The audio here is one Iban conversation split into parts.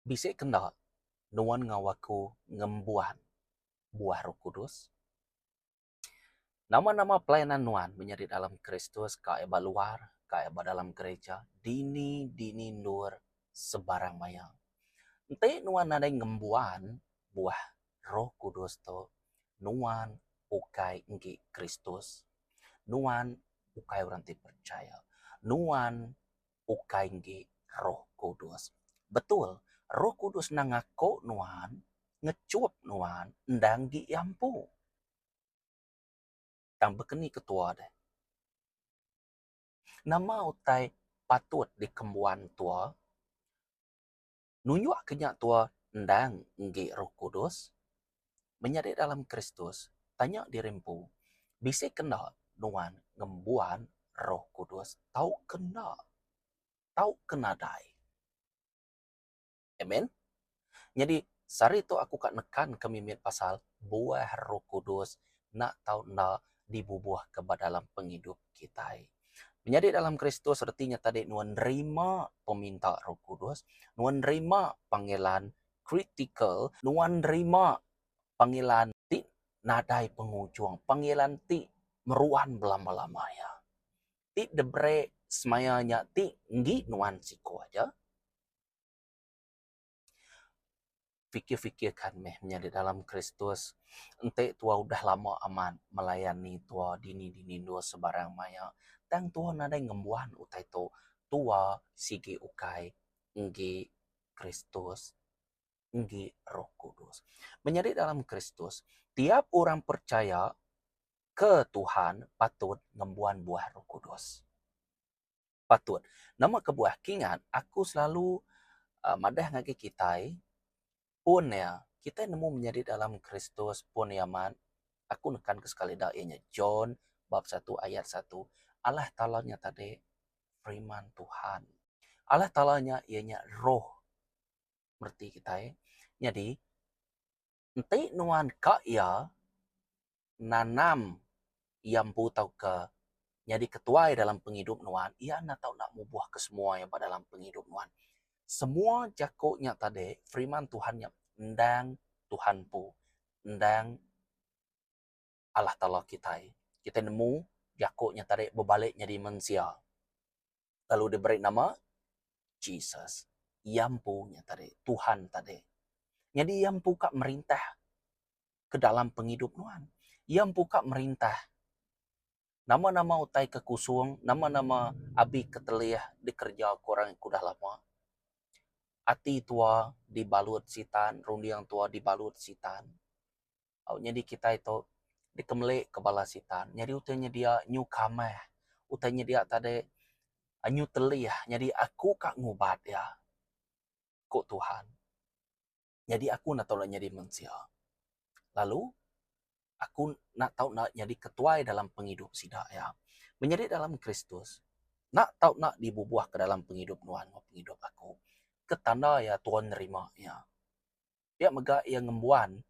Bisi ke enda nuan enggau aku ngembuan buah roh kudus? Nama-nama pelayanan nuan menyadi dalam Kristus, ka iya ba luar, ka iya ba dalam gerija, dini-dini endur sebarang maya. Enti nuan nadai ngembuan buah Roh Kudus tu nuan ukai enggi Kristus, nuan ukai orang ti percaya, nuan ukai enggi Roh Kudus. Betul, Roh Kudus endang ngaku nuan, ngechup nuan enda enggi Iya empu. Tang baka ni ketua deh? Nama utai patut dikembuan tua? Nunjukka nya tua endang enggi Roh Kudus. Menyadi dalam Kristus, tanya diri empu, Bisi ke enda nuan ngembuan Roh Kudus tauka enda? Tauka nadai? Amen. Nyadi, sehari tu aku ka nekanka mimit pasal buah Roh Kudus enda tau enda dibubuhka ba dalam pengidup kitai. Menyadi dalam Kristus reti nya tadi nuan nerima peminta Roh Kudus, nuan nerima panggilan kritikal, nuan nerima panggilan ti nadai pengujung, panggilan ti meruan belama-lama iya. Ti diberi semaya nya ti enggi nuan siko aja. Fikir-fikir kan meh menyadi dalam Kristus enti tuwa udah lama amat melayani tuwa dini-dini endur sebarang maya tang tuwa nadai ngembuan utai tu tuwa sigi ukai enggi Kristus enggi roh kudus. Menyadi dalam Kristus tiap orang percaya ke Tuhan patut ngembuan buah roh kudus. patut. Nama kebuah? Kingat, aku selalu madah ngagai kitai, pun iya kitai nemu menyadi dalam Kristus, pun iya mat, aku nekanka sekali dak iya nya John bab satu ayat satu, Allah Taala nya tadi Firman Tuhan. Allah Taala nya iya nya Roh mereti kitai. Nyadi. Enti nuan ka iya nanam iya empu tauka nyadi ketuai dalam pengidup nuan, iya enda tau enda mubuh ke semua iya ba dalam pengidup nuan. Semua jaku nya tadi, firman Tuhan nya endang Tuhan empu, endang. Allah Taala kitai. Kitai nemu jaku nya tadi bebalik nyadi mensia lalu diberi nama Jesus. Iya empu nya tadi, Tuhan tadi. Nyadi iya empu ka merintah ke dalam pengidup nuan. Iya empu ka merintah nama-nama utai ke kusung, nama-nama abi ke telih dikereja ku orang ke udah lama. Ati tua dibalut sitan, runding tua dibalut sitan. au nyadi kitai tu dikemeli ke bala sitan nyadi utai nyedia nyu kamah utai nyedia tadai nyu telih nyadi aku ka ngubat iya ku Tuhan nyadi aku enda tau nyadi mensia lalu aku enda tau nyadi ketuai dalam pengidup sida iya menyadi dalam Kristus enda tau enda dibubuh ke dalam pengidup nuan pengidup aku ke tanda iya tau nerima iya. Pia mega iya ngembuan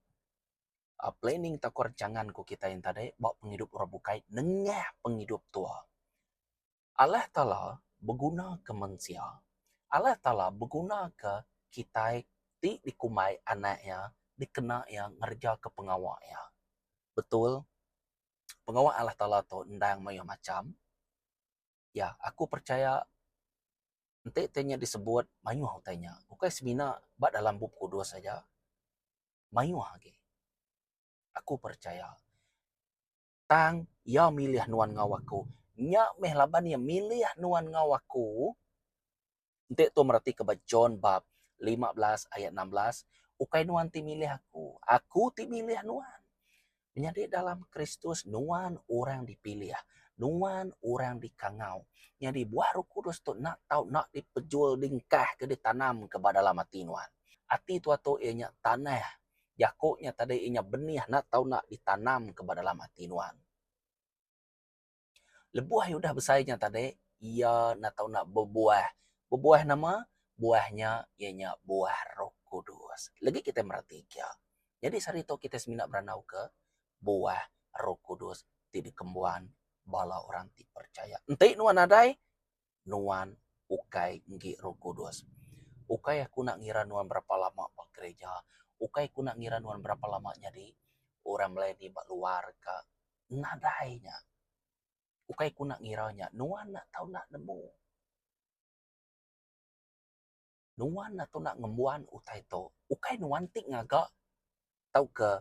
planning tauka rancangan ku kitai enti tadi ba pengidup orang bukai nengah pengidup tua. Allah Taala beguna ke mensia. Allah Taala beguna ke kitai ti dikumbai anak iya dikena iya ngereja ke pengawa iya. Betul pengawa Allah Taala tu endang mayuh macham. Ya, aku percaya enti ti nya disebut mayuh utai nya. Bukai semina ba dalam Bup Kudus aja, mayuh agi. Aku percaya. Tang Iya milih nuan enggau aku. Nya meh laban Iya milih nuan enggau aku, Enti tu meratika ba John bab lima belas ayat enam belas, ukai nuan ti milih aku, aku ti milih nuan. Menyadi dalam Kristus nuan orang dipilih, nuan orang dikangau. Nyadi buah Roh Kudus tu enda tau enda dipejul, dingkah ke ditanam ke ba dalam ati nuan. Ati tua tu iya nya tanah. Jaku nya tadi iya nya benih enda tau enda ditanam ke ba dalam ati nuan. Lebuh iya udah besai nya tadi, iya enda tau enda bebuah. Bebuah nama? Buah nya iya nya buah Roh Kudus. Legi kita mereti kia. Nyadi sehari tu kita semina berandauka buah Roh Kudus ti dikembuan bala orang ti percaya. Enti nuan nadai. nuan ukai enggi Roh Kudus. Ukai aku nak ngira nuan berapa lama ba gereja, ukai aku nak ngira nuan berapa lama nyadi orang melayani ba luar ka nadai nya. Ukai aku nak ngira nya, nuan nak tau nak nemu. Nuan nak tau nak ngembuan utai tu. Ukai nuan ti ngaga tauka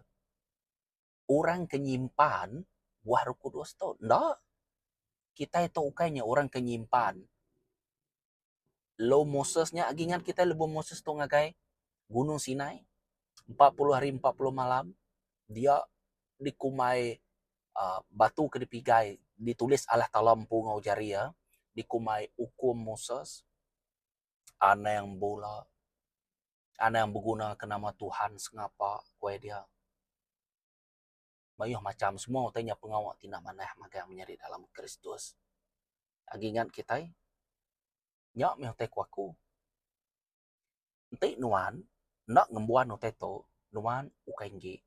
orang ke nyimpan Buah Roh Kudus tu. Enda. Kitai tu ukai nya orang ke nyimpan Law Moses nya. Agi ingat kitai lebuh Moses tu ngagai Gunung Sinai, empat puluh hari empat puluh malam dia dikumbai aaa batu ke dipigai ditulis Allah Taala empu enggau jari iya, dikumbai Ukum Moses, Anang bula. Anang begunaka nama Tuhan sengapa, ku iya. Mayuh macham semua utai nya pengawa ti enda manah magang menyadi dalam Kristus. Agi ngan kitai, nya mih utai ku aku. Enti nuan enda ngembuan utai tu, nuan ukai enggi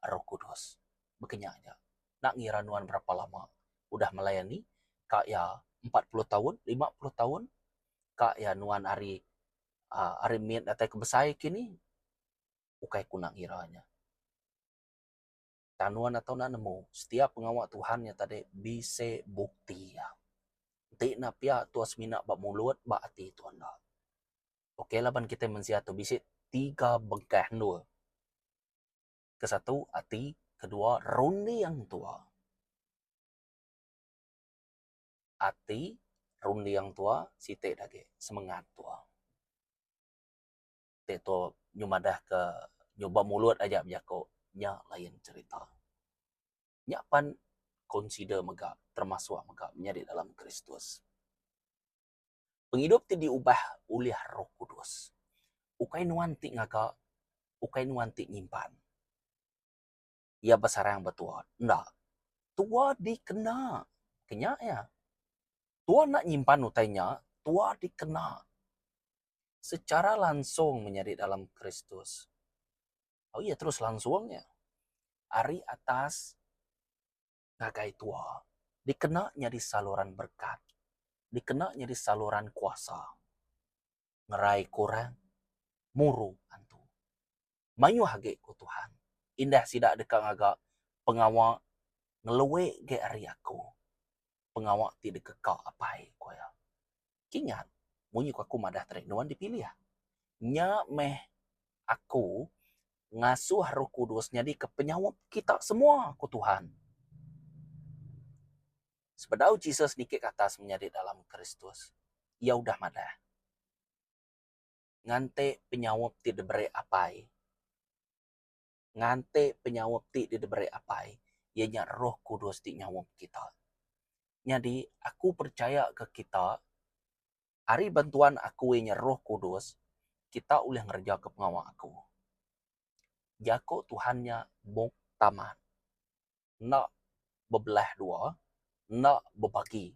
Roh Kudus. Baka nya aja. Enda ngira nuan berapa lama udah melayani, ka iya empat puluh taun, lima puluh taun, ka iya nuan ari aa ari mit datai ke besai kini ukai ku nak ngira nya. Tang nuan atok enda nemu setiap pengawa Tuhan nya tadi bisi bukti iya. Enti enda pia tuan semina ba mulut ba ati tuan enda. Okey laban kitai mensia tu bisi tiga bengkah endur. Ke satu ati, ke dua runding tuan. ati runding tua siti agi semengat tua. Ti tu nyuh madah ke nyuba mulut aja bejaku nya lain cerita. Nya pan consider mega termasuk mega menyadi dalam Kristus. Pengidup ti diubah ulih Roh Kudus ukai nuan ti ngaga ukai nuan ti nyimpan. iya besarang ba tua. Enda. Tua dikena ke nya iya. Tua enda nyimpan utai nya, tua dikena secara langsung menyadi dalam Kristus. Au iya terus langsung iya. Ari atas ngagai tua dikena nyadi saluran berkat, dikena nyadi saluran kuasa ngerai kurang muru antu. Mayuh agi ku Tuhan, indah sida deka ngaga pengawa ngelue agi ari aku, pengawa ti dikeka Apai, ku iya. Kingat, munyi ku aku madah tadi nuan dipilih. Nya meh aku ngasuh Roh Kudus nyadika penyaup kita semua, ku Tuhan. Sebedau Jesus niki ke atas menyadi dalam Kristus, iya udah madah, Nganti penyaup ti diberi Apai, nganti penyaup ti diberi Apai, iya nya Roh Kudus ti nyaup kita. Nyadi aku percaya ke kita ari bantuan aku iya nya Roh Kudus kita ulih ngereja ke pengawa aku. Jako Tuhan nya buk taman. Enda bebelah dua, enda bebagi.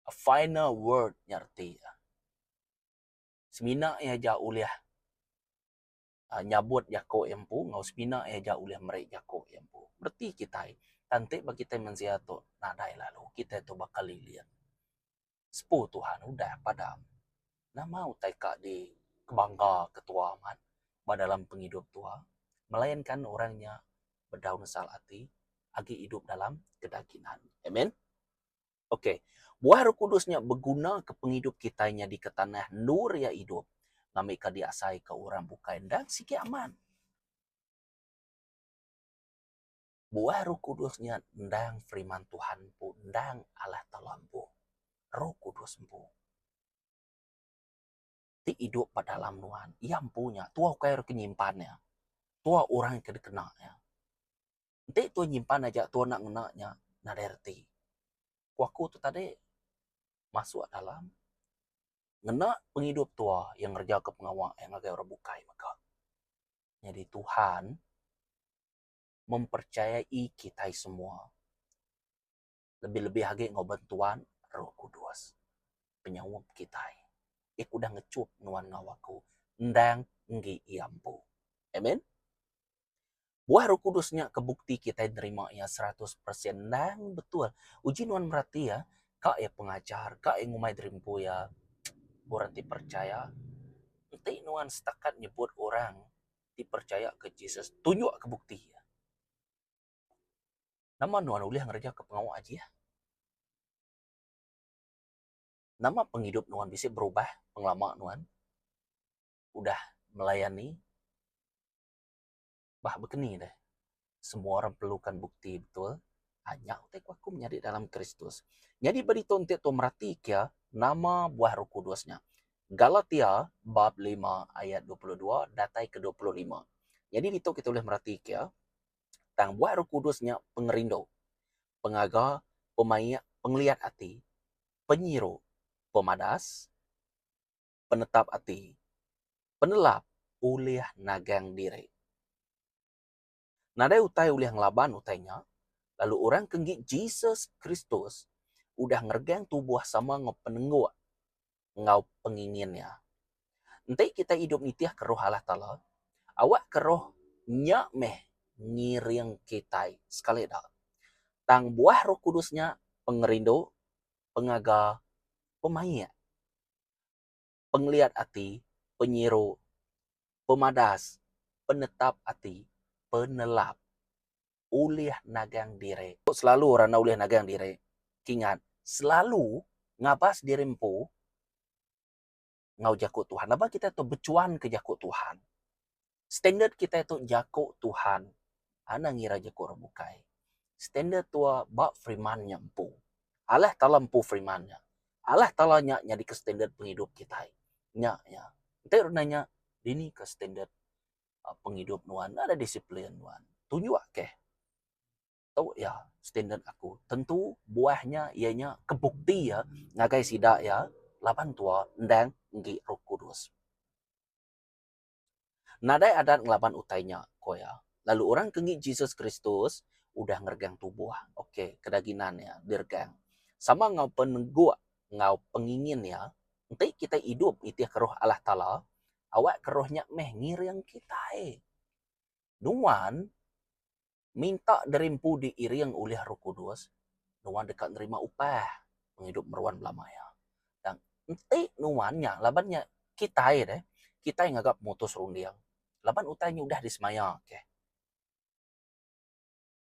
A final word nya reti iya. Semina iya aja ulih nyabut jako iya empu enggau semina iya ja ulih meri jako iya empu. Reti kitai, tang enti ba kitai mensia tu nadai lalu kitai tu baka lilin. Sepu Tuhan udah padam. Nama utai ka di kebangga ke tua amat ba dalam pengidup tua melainkan orang nya bedau nesal ati agi idup dalam kedagingan. Amen. Ok. Buah Roh Kudus nya begunaka pengidup kitai nyadika tanah endur iya idup ngambika diasaika orang bukai enda sigi aman. Buah Roh Kudus nya endang Firman Tuhan empu, endang Allah Taala empu. Roh Kudus empu. ti idup ba dalam nuan. Iya empu nya. Tuah ukai ira ke nyimpan iya. Tuah orang ke dikena iya. Enti tuah nyimpan aja tuah enda ngena nya, nadai reti. Ku aku tu tadi, masuk dalam ngena pengidup tuah iya ngerejaka pengawa iya ngagai orang bukai mega. Nyadi Tuhan mempercayai kitai semua. lebih-lebih agi enggau bantuan Roh Kudus. Penyaup kitai. Iya ke udah ngechup nuan enggau aku endang enggi iya empu. Amen. Buah Roh Kudus nya ke bukti kitai nerima iya seratus persen endang betul. Uji nuan merati iya, ka iya pengajar, ka iya ngumbai diri empu iya orang ti percaya. Enti nuan setakat nyebut orang ti percaya ke Jesus, tunjukka bukti iya. Nama nuan ulih ngereja ke pengawa Ajih? Nama pengidup nuan bisi berubah pengelama nuan udah melayani bah bekeni deh semua orang perlukan bukti betul anya utai ku aku menyadi dalam Kristus. Nyadi ba ditu enti tu meratika nama buah Roh Kudus nya. Galatia bab lima ayat dua puluh dua datai ke dua puluh lima. Nyadi ditu kita ulih meratika Tang buat Roh Kudus nya pengerindu, pengaga, pemaik, pengeliat ati, penyiru, pemadas, penetap ati, penelap ulih nagang diri. Nadai utai ulih ngelaban utai nya, lalu orang ke enggi Jesus Kristus udah ngeregang tubuh sama enggau penengguk enggau pengingin iya. Enti kitai idup nitihka Roh Allah Taala, awakka Roh nya meh ngiring kitai sekali dak. Tang buah Roh Kudus nya pengerindu, pengaga, pemaik, pengeliat ati, penyiru, pemadas, penetap ati, penelap, ulih nagang diri. Tu selalu orang enda ulih nagang diri. Kingat, selalu ngabas diri empu enggau jaku Tuhan. Laban kitai tu bechuanka jaku Tuhan. Standard kitai tu jaku Tuhan. Enda ngira jaku orang bukai. Standard tu ba firman nya empu. Allah Taala empu firman nya. Allah Taala nya nyadika standard pengidup kitai. Nya iya. Enti udah nya, dini ke standard pengidup nuan enda ada disiplin nuan tunjuk keh tu iya standard aku tentu buah nya iya nya ke bukti iya ngagai sida iya laban tua endang enggi roh kudus. Nadai adat ngelaban utai nya ku iya lalu orang ke enggi Jesus Kristus udah ngeregang tubuh ok ke daginan iya diregang sama enggau peneguk enggau pengingin iya enti kitai idup nitih ke roh Allah Taala awak ke roh nya meh ngiring kitai. Nuan minta derimpu diiring ulih roh kudus, nuan deka nerima upah pengidup meruan belama iya. Tang enti nuan nya laban nya kitai deh, kitai ngaga pemutus runding laban utai nya udah disemaya. Okey.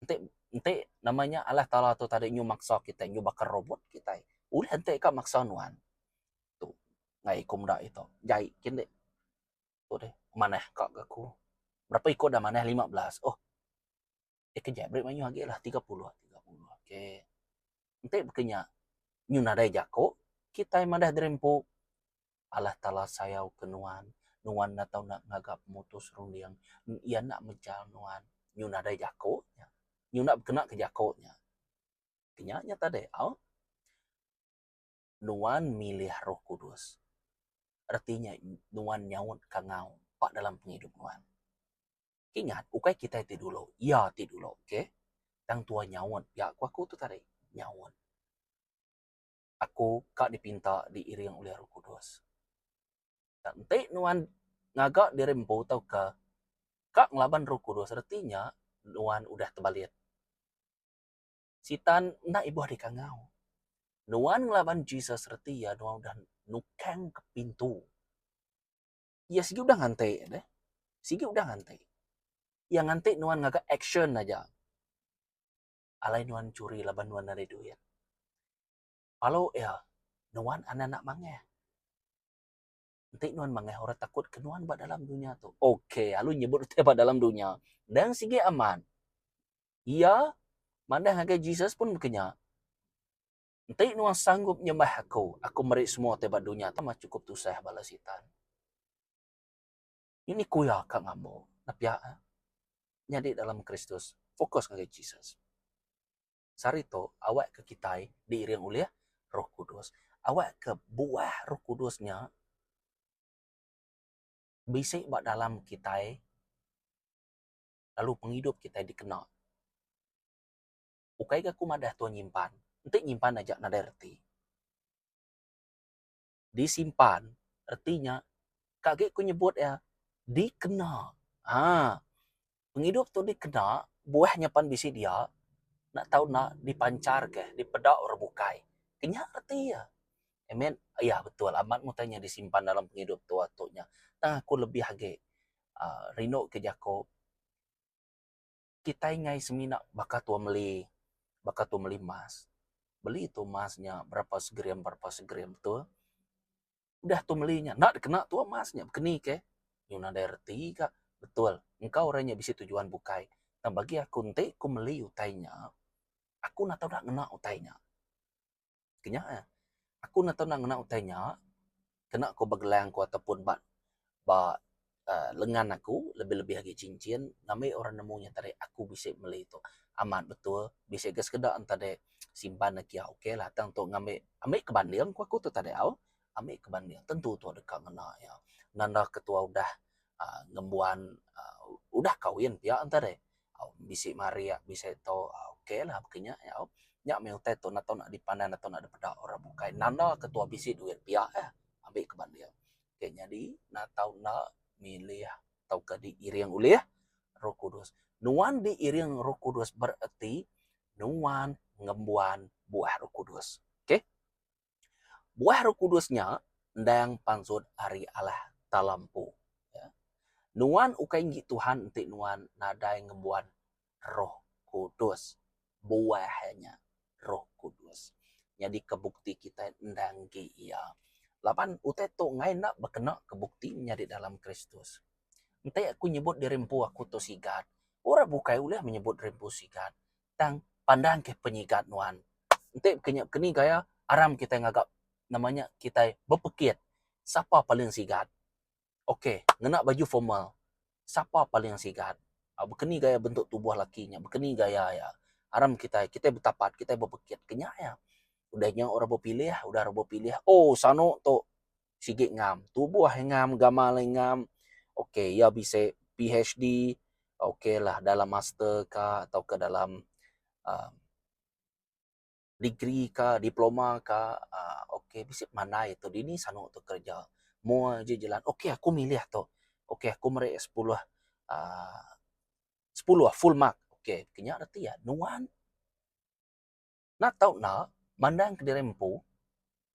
Enti enti nama nya Allah Taala tu tadi nyuh maksa kitai nyuh bakar robot kitai. Ulih enti ka maksa nuan. Tu ngagai aku meda ito. Jai kin deh. Tu deh manah ka ga aku. Berapa iko dah manah lima belas. Ohh. Eh ke jai beri mayuh agi lah tiga puluh. Okey. Enti baka nya nyuh nadai jako kitai madah diri empu. Allah Taala sayau ke nuan. Nuan enda tau enda ngaga pemutus runding. Iya enda mejal nuan. Nyu nadai jaku nya. Nyu enda bekena ke jaku nya. Kenya nya tadi au. Nuan milih roh kudus. Reti nya nuan nyaut kangau ba dalam pengidup nuan. Ingat, ukai kitai ti dulu, Iya ti dulu. Okay. Tang Tuhan nyaut. Nya ku aku tu tadi. Nyaut. Aku ka dipinta diiring ulih Roh Kudus. Nya enti nuan ngaga diri empu tauka ka ngelaban Roh Kudus reti nya nuan udah tebalit. Sitan enda ibuh dikangau. Nuan ngelaban Jesus reti iya nuan udah nukang ke pintu. Iya sigi udah nganti deh. Sigi udah nganti. Iya nganti nuan ngaga action aja. alai nuan churi laban nuan nadai duit. Palo iya, nuan anak-anak mangeh. Enti nuan mangeh orang takut ke nuan ba dalam dunya tu. Ok, lalu nyebut utai ba dalam dunya. Dang sigi amat. Iya madah ngagai Jesus pun ke nya. Enti nuan sanggup nyembah aku, aku meri semua utai ba dunya tu mah chukup tusah bala sitan. Ini ku iya ka ngambo nepiak iya nyadi dalam Kristus, fokus ngagai Jesus. Sehari tu, awak ke kitai diiring ulih Roh Kudus. Awak ke buah Roh Kudus nya bisi ba dalam kitai lalu pengidup kitai dikena. Ukai ga ku madah Tuhan nyimpan, enti nyimpan aja nadai reti. disimpan reti nya ka agi ku nyebut iya dikena aa pengidup tu dikena buah nya pan bisi dia enda tau enda dipancarka dipeda orang bukai inya reti iya I mean iya betul amat mun tanya disimpan dalam pengidup tua tu nya tang aku lebih agi rinduka jaku Kitai ngai semina baka tua meli baka tua meli emas. Beli tu emas nya berapa segram berapa segram tu. Udah tu meli nya enda dikena tua emas nya bekeni ke. Yu nadai reti ka. Betul engka orang nya bisi tujuan bukai. Tang bagi aku enti ku meli utai nya aku enda tau dak ngena utai nya. Kenya eh. Aku enda tau ngena utai nya kena ku ba gelang ku atau pun ba ba uhh lengan aku lebih lebih agi cincin ngambi orang nemu nya tadi aku bisi meli tu amat betul bisi ga sekeda enta deh simpan agi kiau okay lah tang tu ngambi ambi ke banding ku aku tu tadi au ambi ke banding tentu tu deka ngena nya nanda ketua udah uhh ngembuan uhh udah kahwin pia enta deh bisi marik bisi tu ok lah baka nya nyau. Nya meh utai tu enda tau nak dipanai enda tau nak dipeda orang bukai nanda ke tuah bisi duit pia eh abi ke ba dia. Ok nyadi enda tau enda milih tauka diiring ulih Roh Kudus. Nuan diiring Roh Kudus bereti nuan ngembuan buah Roh Kudus. Ok. Buah Roh Kudus nya endang pansut ari Allah Taala empu. Nuan ukai enggi Tuhan enti nuan nadai ngembuan Roh Kudus, buah nya Roh Kudus. Nyadika bukti kitai endang enggi Iya. Laban utai tu enggai enda bekena ke bukti menyadi dalam Kristus. Enti aku nyebut diri empu aku tu sigat, orang bukai ulih menyebut diri empu sigat. tang pandang ke penyigat nuan. Enti ke nya keni gaya aram kitai ngaga nama nya kitai bepekit sapa paling sigat. Ok ngena baju formal sapa paling sigat bekeni gaya bentuk tubuh laki nya bekeni gaya iya aram kitai kitai betapat kitai bepekit ke nya iya. Udah nya orang bepilih udah orang bepilih oh sano tu. sigi ngam tubuh iya ngam gamal iya ngam ok iya bisi PHD ok lah dalam master ka atau ka dalam aaa degree ka diploma ka aaa ok bisi mandai tu dini sanu tu kerja moa ji jelan ok aku milih ato ok aku meri sepuluh aaa sepuluh full mark ok kena reti iya nuan. Enda tau enda, mandang kediri empu,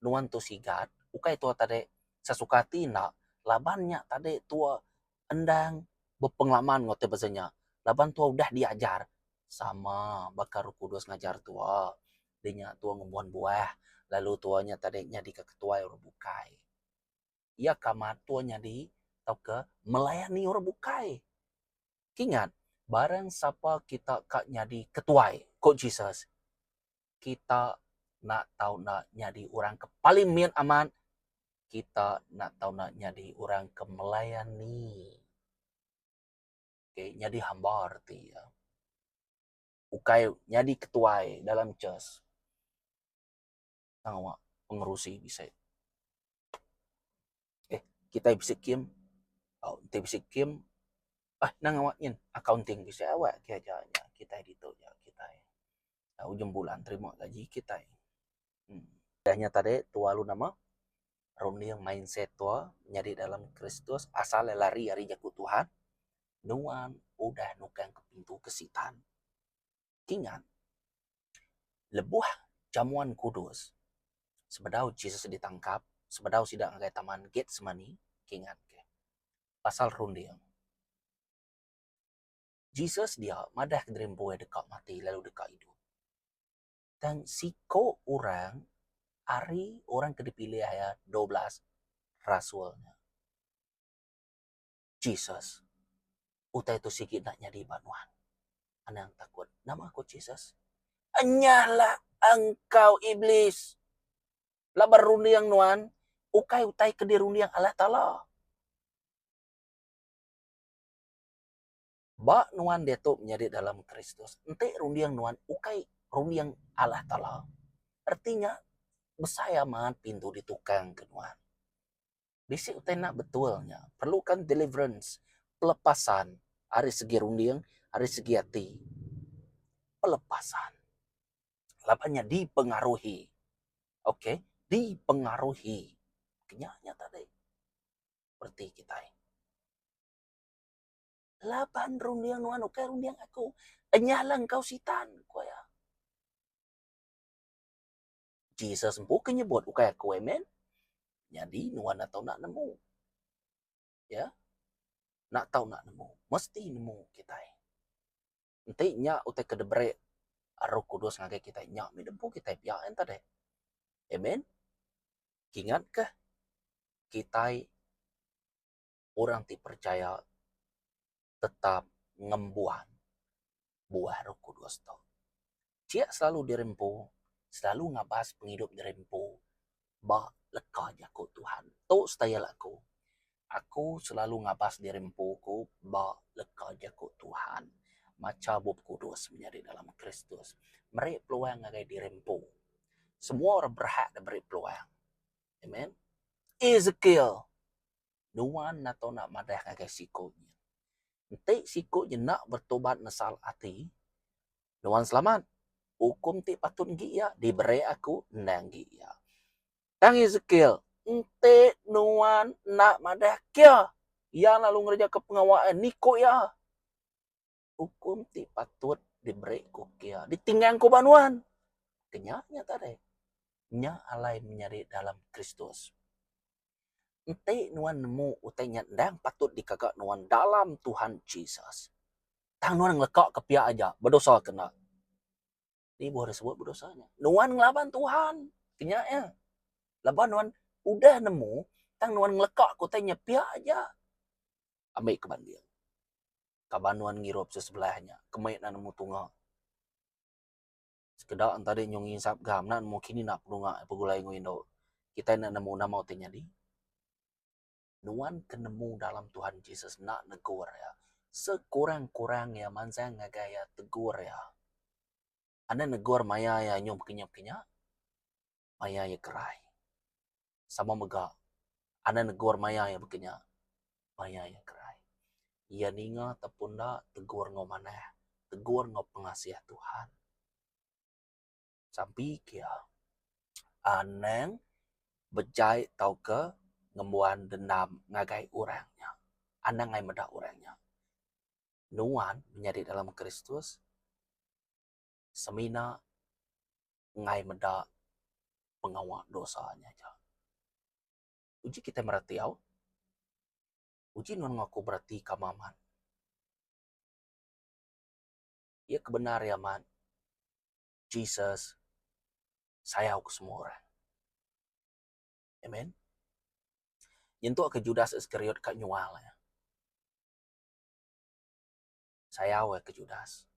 nuan tu sigat, ukai tuak tadi sesuka ati enda, laban nya tadi tuak endang bepengalaman enggau ti beza nya, laban tuak udah diajar sama baka Roh Kudus ngajar tuak, di nya tuak ngembuan buah, lalu tuak nya tadi nyadika ketuai orang bukai. Iya ke amat tuak nyadi tauka melayani orang bukai. Kingat, barang sapa kita ka nyadi ketuai, ko Jesus, kita enda tau enda nyadi orang ke paling mit amat, kita enda tau enda nyadi orang ke melayani. Okey, nyadi hamba reti iya. Ukai nyadi ketuai dalam church. tang awak pengerusi bisi eh kitai bisi kem au enti bisi kem bah nang awak nyin accounting bisi awak ke aja nya kitai ditu nya kitai tau ujung bulan terima gaji kitai uhh. Udah nya tadi tua lu nama runding mindset tua nyadi dalam kristus asal le lari ari jaku Tuhan nuan udah nukang ke pintu ke sitan. Ingat, lebuh jamuan kudus, sebedau Jesus ditangkap, sebedau sida ngagai taman Getsemani, ingatka pasal runding. Jesus dia madahka diri empu deka mati lalu deka idup. Tang siko orang ari orang ke dipilih iya, dua belas rasul nya. Jesus, utai tu sigi enda nyadi ba nuan. Anang takut, Nama ku Jesus? Enyahlah engkau Iblis! Laban runding nuan ukai utai ke dirunding Allah Taala. Ba nuan diatu menyadi dalam Kristus, enti runding nuan ukai runding Allah Taala, reti nya besai amat pintu ditukangka nuan. Bisi utai enda betul nya. Perluka deliverance, pelepasan ari segi runding, ari segi ati. Pelepasan. Laban nya dipengaruhi. Okay. Dipengaruhi. Kena nya tadi. Bereti kitai. Laban runding nuan ukai runding aku. Enyah lah engkau sitan. Ku iya. Jesus empu ke nyebut ukai aku amen. Nyadi nuan enda tau nak nemu. Ya. Nak tau nak nemu, mesti nemu kitai. Enti nya utai ke diberi Roh Kudus ngagai kitai nya mih nempu kitai pia en tadi. Amen. Kingatkah kitai orang ti percaya tetap ngembuan buah roh kudus tu. Sia selalu dirempu, selalu ngabas pengidup dirempu ba leka jaku Tuhan. Tu style aku. Aku selalu ngabas dirempu ku ba leka jaku Tuhan. Macha Bup Kudus menyadi dalam Kristus. Meri peluang ngagai dirempu. Semua orang berhak diberi peluang. Amen. Ezekiel. nuan nato enda madah ngagai siko nyin. Enti siko nyin enda bertobat nesal ati, nuan selamat. Ukum ti patut enggi iya diberi aku endang enggi iya. Tang Esekiel, Enti nuan enda madah kia, iya lalu ngerejaka pengawa iya, niko iya. Ukum ti patut diberi ku kia ditinggang ku ba nuan. Ke nya nya tadi. Nya alai menyadi dalam Kristus. Enti nuan nemu utai nya endang patut dikaga nuan dalam Tuhan Jesus. Tang nuan ngelekaka pia aja bedosa ke enda. Di buah disebut bedosa nya? Nuan ngelaban Tuhan. Ke nya iya. Laban nuan udah nemu tang nuan ngelekaka utai nya pia aja. Ambika banding. ka banun ngirup sesebelah nya ke mei enda nemu tunga. Sekeda enta dei nyau nginsap ga mena nemu kini enda penunga begulai enggau indu. Kitai enda nemu nama utai nyadi. Nuan ke nemu dalam Tuhan Jesus enda negur iya. Sekurang-kurang iya mansang ngagai iya tegur iya. Enda negur maya iya nyau bekenya-bekenya. maya iya kerai. Sama mega Anang negur maya iya baka nya maya iya kerai. Iya ninga ato pun enda tegur enggau manah, tegur enggau pengasih Tuhan. Sampi ke iya Anang bejai tauka ngembuan dendam ngagai orang nya. Anang ai meda orang nya nuan menyadi dalam Kristus. semina enggai meda pengawa dosa nya aja. Uji kitai mereti au, uji nuan enggau aku bereti kama amat. Iya ke bendar iya amat, Jesus sayau ke semua orang. Amen. Nyentuk ke Judas Iskariot ka nyual iya. Sayau ai ke Judas.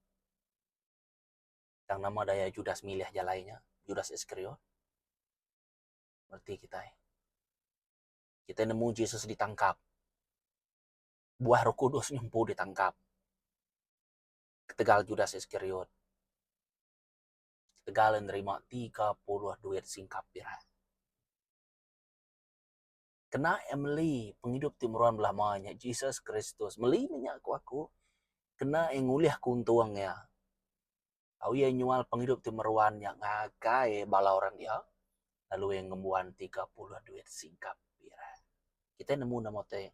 Tang nama daya Judas milih jalai nya, Judas Iskariot? Reti kitai. Kitai nemu Jesus ditangkap. Buah Roh Kudus nya empu ditangkap. Ketegal Judas Iskariot, ketegal iya nerima tiga puluh duit singkap pirak. kena iya meli pengidup ti meruan belama nya Jesus Kristus. Meli mih nya ku aku kena iya ngulih aku untung iya. Tau iya nyual pengidup ti meruan nya ngagai bala orang dia lalu iya ngembuan tiga puluh duit singkap pirak. Kitai nemu nama utai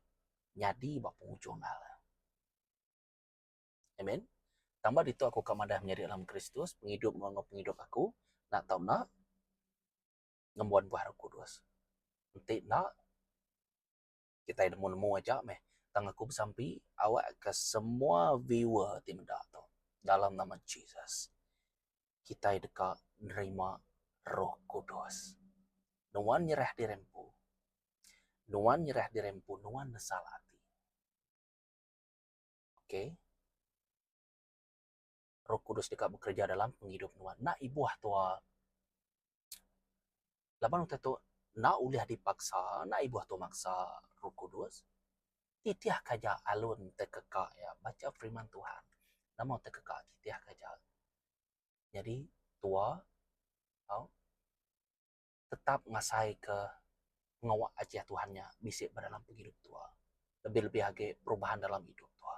nyadi ba penghujung hala. Amen. Tambah ditu aku ka madah menyadi dalam Kristus pengidup meruan enggau pengidup aku enda tau enda. ngembuan buah roh kudus. Enti enda, kitai nemu-nemu aja meh. Tang aku besampi awakka semua viewer ti meda tu, dalam nama Jesus, kitai deka nerima roh kudus. Nuan nyerah diri empu, nuan nyerah diri empu, nuan nesal ati. Okay? roh kudus deka bekereja dalam pengidup nuan. Enda ibuh tua laban utai tu enda ulih dipaksa, enda ibuh tua maksa roh kudus. Titihka aja alun entek keka iya bacha firman Tuhan. Nama utai keka titihka aja. Nyadi tua tau tetap ngasaika pengawa ajar Tuhan nya bisi ba dalam pengidup tua. Lebih-lebih agi perubahan dalam idup tua.